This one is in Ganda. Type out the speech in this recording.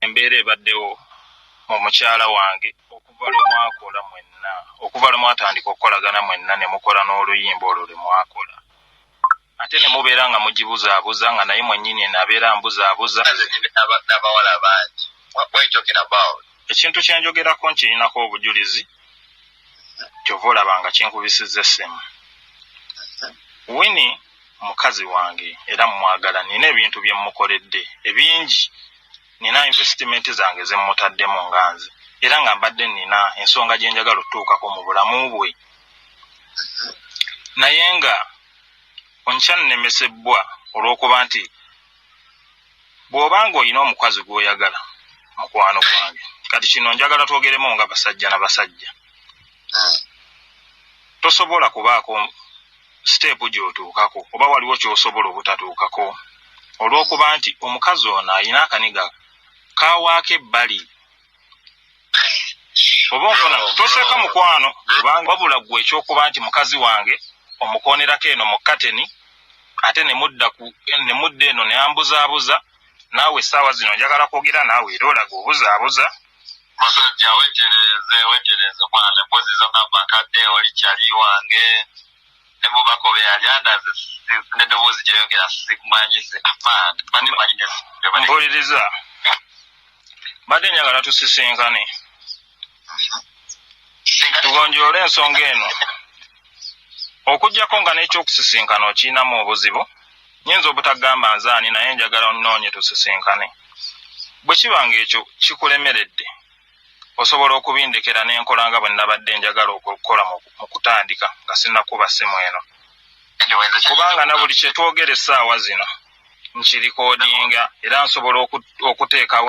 embeera ebaddewo mu mukyala wange okuva lwe mwakola mwenna okuva lwe mwatandika okukolagana mwenna ne mukola n'oluyimba olwo lwe mwakola ate ne mubeera nga mugibuzaabuza nga naye mwennyini enabeera mbuzaabuza n'abawala bangi ekintu kye njogerako nkirinako obujulizi kyova olaba nga kinkubisiza essimu wini mukazi wange era mmwagala. Nnina ebintu bye mmukoledde ebingi. Nnina investiment zange ze mmutaddemu nga nze era nga mbadde nnina ensonga gye njagala otutuukako mu bulamu bwe. Naye nga nkyannemesebbwa olw'okuba nti bw'oba ng'olina omukazi gw'oyagala mukwano gwange kati kino njagala twogeremu nga basajja na basajja tosobola kubaako siteepu gy'otuukako oba waliwo ky'osobola obutatuukako olw'okuba nti omukazi ono alina akaniga kaawaako ebbali oba okona toseka mukwano kubanga wabula ggwe ekyokuba nti mukazi wange omukoonerako eno mu kateni ate ne mudda ku ne mudda eno ne ambuzaabuza naawe essaawa zino njagala kwogera naawe era olaga obuzaabuza musajja wetereze wetereze mwana embozi zona bakadde oli kyali wange nemubako beyali andaze nedoboozi gyeyogera sikumanyise amaange mani manyi mpuliriza mbadde njagala tusisinkane tugonjoole ensonga eno okujjako nga n'ekyokusisinkana okirinamu obuzibu Nyinza obutagamba nze ani naye njagala onnoonye tusisinkane. Bwe kiba ng'ekyo kikulemeredde, osobola okubindekera ne nkola nga bwe nnabadde njagala okukola mu kutandika nga sinnakuba ssimu eno. Kubanga na buli kye twogera essaawa zino nkirikoodinga era nsobola okuteekawo.